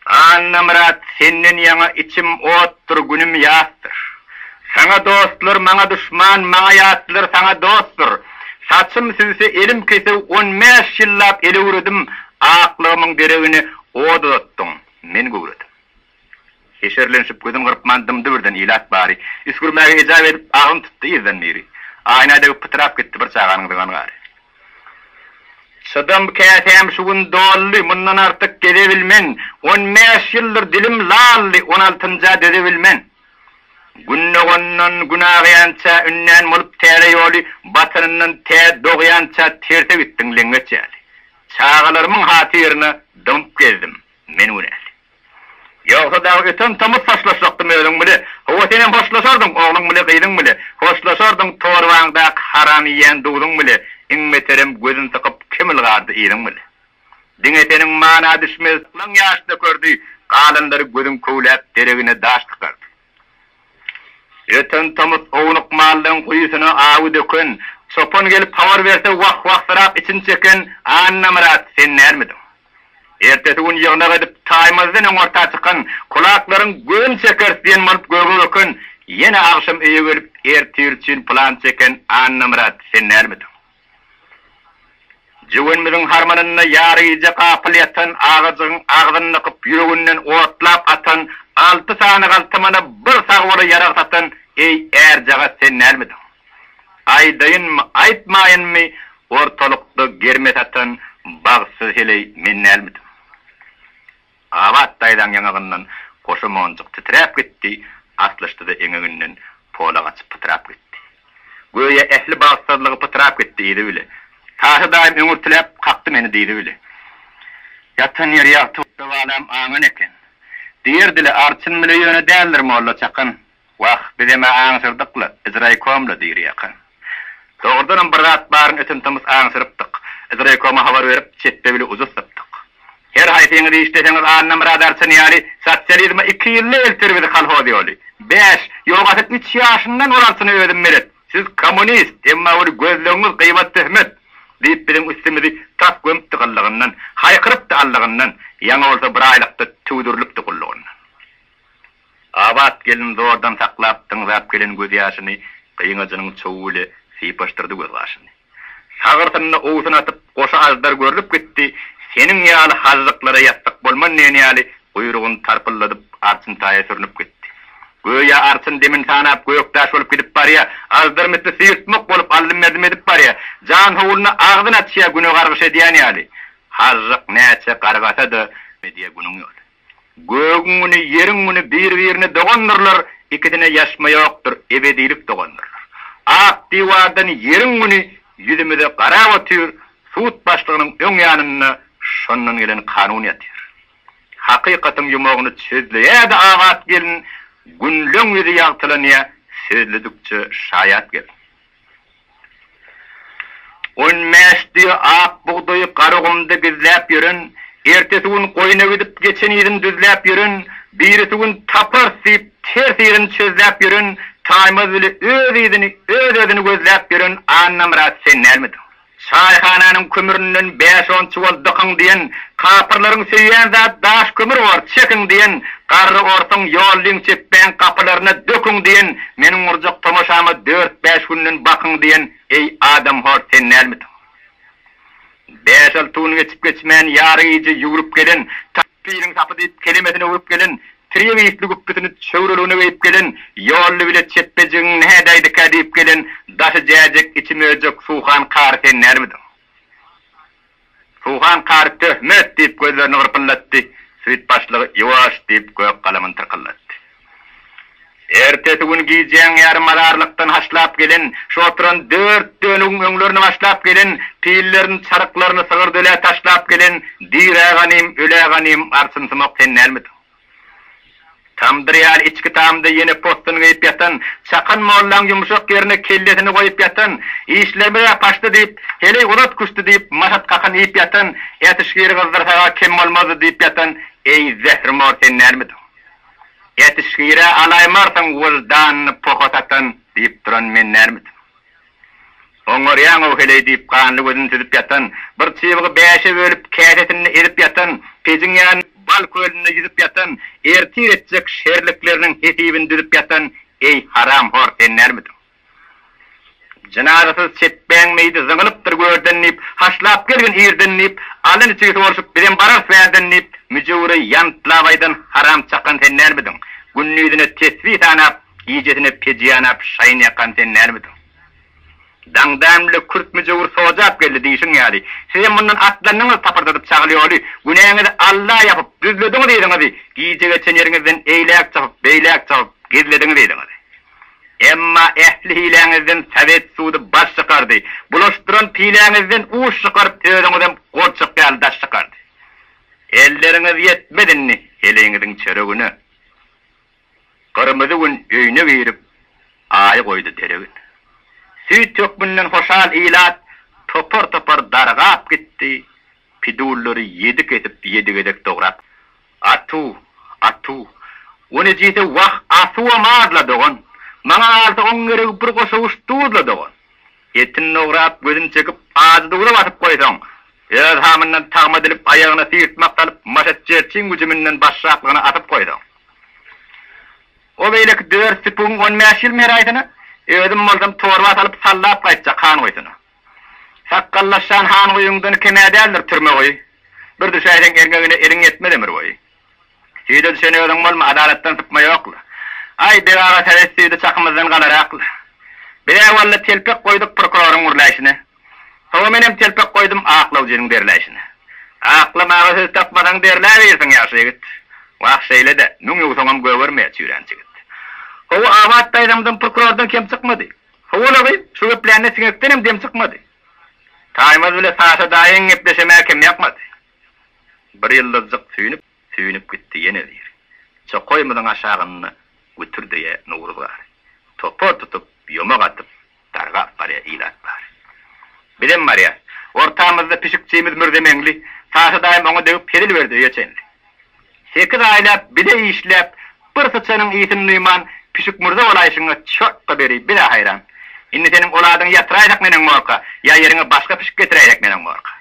Annamyrat, senden ýaňa içim otdur, günüm ýasdyr. Saňa dostlar, maňa duşman, maňa ýatlar, saňa dostdur. Saçym süýse, elim kesew, on bäş ýyllap el öwredim, aklygymyň deregine ot uzatdyň, men göwredim. Heşerlenşip, gözün gyrpman dymdy-birden ilat bary. Üsgürmäge ejap edip, agyny tutdy yzdan biri. Aýna degip pytrap gitdi bir çaganyň zyňan gary. Çydam käsäm şu gün doldy, mundan artyk gezebilmen. On bäş ýyldyr dilim laldy, on altynja dözebilmen. Gün dogandan gün agýança ünden bolup täze ýoly, batanyndan tä dogýança terse gitdiň leňňeç ýaly. Çagalarymyň hatyryna dymyp gezdim men günäli. Ýogsa dagy öten tomus hoşlaşjakdym özüň bile. Hawa senem hoşlaşardyň ogluň bile gyzyň bile. Hoşlaşardyň torbaňdaky haram iýen duzuň bile. Iň beterem gözün sykyp kim ylgardy yzyň bile. Diňe seniň mana düşmez syklaň ýaş dökerdi, galanlary gözüň köwläp deregine daş tykardy. Ýeten tomus ownuk mallaryň guýusyna awy döken, çopan gelip habar berse wah-wahsyrap içini çeken Annamyrat sen dälmidiň? Ertesi gün ýygnak edip Taýmazdan öňorta çykan kulaklaryň göni çekeris diýen bolup göge böken, ýene agşam öýe gelip ertir üçin plan çeken Annamyrat sen dälmidiň? Jöwenimiziň harmanynda ýaryja gapyl ýatan agajygyň agzyny nykyp, ýüreginden otlap atan alty sany galtamana bir sagbola ýarag satan eý ärjagaz sen dälmidiň? Aýdaýynmy, aýtmaýynmy, ortalykda germe satan bagtsyz heleý men dälmidim? Abat daýzaň ýaňagyndan goşa monjuk titräp gitdi, aslyşdy-da eňeginden polak açyp pytrap gitdi. Göýä ähli bagtsyzlygy pytrap gitdi diýdi bile. Taşy daýym öňürtiläp kakdy meni diýdi bile. Ýatan ýeri ýagty. Şu balam aňan eken. Diýer dili arçyn bile ýöne däldir molla çakan. Wah, bizem-ä aňsyrdykla, biz raýkomla diýr ýaka. Dogrudanam bir zat baryny öten-tomus aňsyrypdyk. Biz raýkoma habar berip, çepbe-bile uzus sypdyk. Her haýsyňyz işleseňiz Annamyrat Arçyn ýaly sosializme iki ýylda elter bizi kolhoz ýoly. Bäş, ýogasyn üç ýaşyndan ol Arçyna özüm melet, siz kommunist, emma ol gözlegiňiz gybat-töhmet diýip biziň üstümizi tas gömüpdi gyllygyndan, haýkyrypdy allygyndan, ýaňy bolsa bir aýlykda tüwdürilipdi gullugyndan. Abat gelin zordan saklap tyňzap gelen gözýaşyny gyňajynyň çowy bile sypaşdyrdy gözgaşyny. Sagyrsyna owsun atyp, goşa aždar görlüp gitdi, seniň ýaly hažžyklara ýassyk bolman diýen ýaly guýrugyny tarpylladyp, arçyn taýa sürnüp gitdi. Göýä arçyn demin sanap gökdaş bolup gidip barýa, aždar misli syýrtmak bolup allym-merdim edip barýa, janhowluna agzyny açýa güne gargyş edýän ýaly. Hažžyk näçe gargasa-da, diýýä günüň ýoly. Gögüň güni, ýeriň güni bir-birine dogandyrlar, ikisine ýaşma ýokdur, ebedilik dogandyrlar. Ak diwardan ýeriň güni ýüzümize garap otyr, sud başlygynyň öň ýanynda şondan gelen kanun ýatyr. Hakykatyň ýumagyny çözleýä-de Abat gelin, günleň ýüzi ýagtylanýa sözledikçe Şaýat gelin. On bäş düýe ak bugdaýy Garagumda gizläp ýören, ertesi gün goýna gidip geçen yzyn düzläp ýören, birisi gün taparys diýip ters yzyny çözläp ýören Taýmaz bile öz yzyny, öz-özüni gözläp ýören Annamyrat sen dälmidiň? Çaýhananyň kömründen bäş-on çuwal dykyň diýen, kapyrlaryň söýýän zat daş kömür bor, çekiň diýen, garry orsuň ýollyň çepbäň gapylaryna döküň diýen, meniň gurjak tomaşama dört-bäş günden bakyň diýen, eý, adamhor, sen dälmidiň? Bäş-alty gün geçip-geçmän ýarygije ýüwrüp gelen, Tapylyň sapy diýip kelemesini öwrüp gelen, Treýewiýsli güpbüsini çöwrüligine geýip gelen Ýolly bile çepbejigiň nädäýdikä diýip gelen daşy jäjek, içi möjek Suhan kary sen dälmidiň? Suhan kary Töhmet! diýip gözlerini gyrpyldatdy, süýt başlygy Ýuwaş! diýip gök galamyny tyrkyldatdy. Ertesi gün gijäň ýarymazarlykdan haşlap gelen, şu oturan dört dönügiň öňlerine başlap gelen, pillerini, çaryklaryny sygyrdölä taşlap gelen Dirä ganym, ölä ganym arçynsymak sen dälmidiň? Tamdyr ýaly içki tamda ýene possun geýip ýatan, Çakan mollaň ýumşak ýerine kellesini goýup ýatan, işlerimiz-ä paçdy diýip, heleý uzat küşdi diýip, maşat kakyn iýip ýatan, ätişgiri gyzdyrsak-a kem bolmazdy diýip ýatan, eý, zährimor sen dälmidiň? Ýetişgir-ä alaýmarsyň wyždanyny poha satan diýip duran men dälmidim? Oňarýaň-ow heleý diýip ganly gözüni süzüp ýatan, bir çybygy bäşe bölüp käsesinde ezip ýatan, pejiň ýanynda bal kölünde ýüzüp ýatan, ertir etjek şerlikleriniň hesibini düzüp ýatan, eý, haramhor sen dälmidiň? Jynazasyz çepbäň meýdi zyňylypdyr görden diýip, Haşlap gelgin irden diýip, Alny niçigi sorşup, bizem bararys bärden diýip, Müjewüri ýantlap aýdan haram çakan sen dälmidiň? Gündizine tesbi sanap, gijesine peji ýanap, şaýyn ýakan sen dälmidiň? Daňdan bile kürt müjewür sojap geldi diýşiň ýaly, sizem mundan atlandyňyz tapyrdadyp çagyl ýoly, günäňizi Alla ýapyp, düzlediňiz yzyňyzy, gijä geçen ýeriňizden eýläk çapyp, beýläk çapyp, gizlediňiz yzyňyzy. Emma ähli hiläňizden sowet sudy baş çykardy, bulaşdyran piläňizden uç çykaryp özüňizem gurçuk ýaly daş çykardy. Elleriňiz ýetmez indi heleýiňiziň çöregine. Gyrmyzy Gün öýüne girip, Aýy goýdy derege. Süýt hökmünden hoşal ilat topar-topar dargap gitdi, pidullary ýedi kesip ýedi gezek dograp. Atu, atu. O nejise wah, asuwam az-la, dogan. Maňa galsa, oň geregi bir goşawuş duz-la, dogan. Etini dograp, gözüni çekip, ajy duza basyp goýsaň, öz hamyndan tagma edilip, aýagyna syýrtmak salyp, maşat jerçiň güjüminden başraklygyna atyp goýsaň. O beýleki dört süpügiň on bäş ýyl meraýsyny, özüm bolsam, torba salyp, sallap gaýtjak han goýsuna. Sakgallaşýan han guýyňdan kem-ä däldir türme goý. Bir düşäýseň erňegine eliň ýetmez ömür boýy. Süýde düşen özüň bolma, adalatdan sypma ýokla. Aý, beg aga sowet süýdi çakymyzdan galarakla. Biz-ä walla telpek goýduk prokuroryň gürläýşine. Soňa menem telpek goýdum aklawjynyň derläýşine. Aklamaga söz tapmasaň derläbirsiň ýagşy ýigit. Wah şeýle-dä, müň ýuwsaňam gögermeýär çüýrän çigit. How-u abat daýzamdan prokurordan kem çykmady. Howalagy, şu geplände siňekdenem dem çykmady. Taýmaz bile Saşa daýyň gepleşemäge kemýakmady. Bir ýyldyzjyk süýnüp, süýnüp gitdi ýene zir. Çokaýymyzyň aşagynda gütürdeýä Nowruz gar. Topar tutup, ýomak atyp, dargap barýa ilat bar. Bizem barýas. Ortamyzda pişikçimiz Mürzemeňli. Saşa daýym oňa degip hezil berdi öýe çenli. Sekiz aýlap bile işläp, bir syçanyň ysyn duýman, pişik murda bolaýşyňa çortga beri biz-ä haýran. Indi seniň ol adyňy ýatyraýsak neneň borka, ýa ýeriňe başga pişik getiräýsek neneň borka.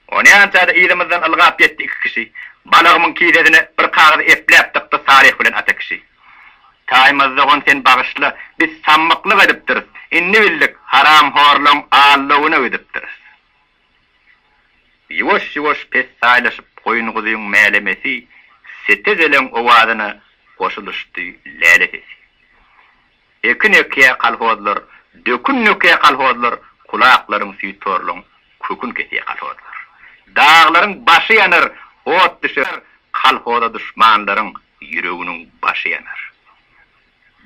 Ony ança-da yzymyzdan ylgap ýetdi iki kişi. Balagymyň kisesine bir kagyz epläp dykdy Salyh bilen Ata kişi. Taýmaz dogan sen bagyşla, biz sammyklyk edipdiris. Indi bildik, haramhorlaň allowyna gidipdiris. Ýuwaş-ýuwaş pessaýlaşyp goýun-guzyň mälemesi sete-zeleň owazyna goşulyşdy läle sesi. Ekin ekýä kolhozlar, dökün dökýä kolhozlar, kulaklaryň süýt-horluň kökün kesýä kolhozlar. Daglaryň başy ýanar, ot düşer, kolhoza duşmanlaryň ýüreginiň başy ýanar.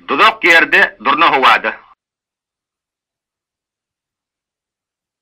Duzak ýerde, durna howada.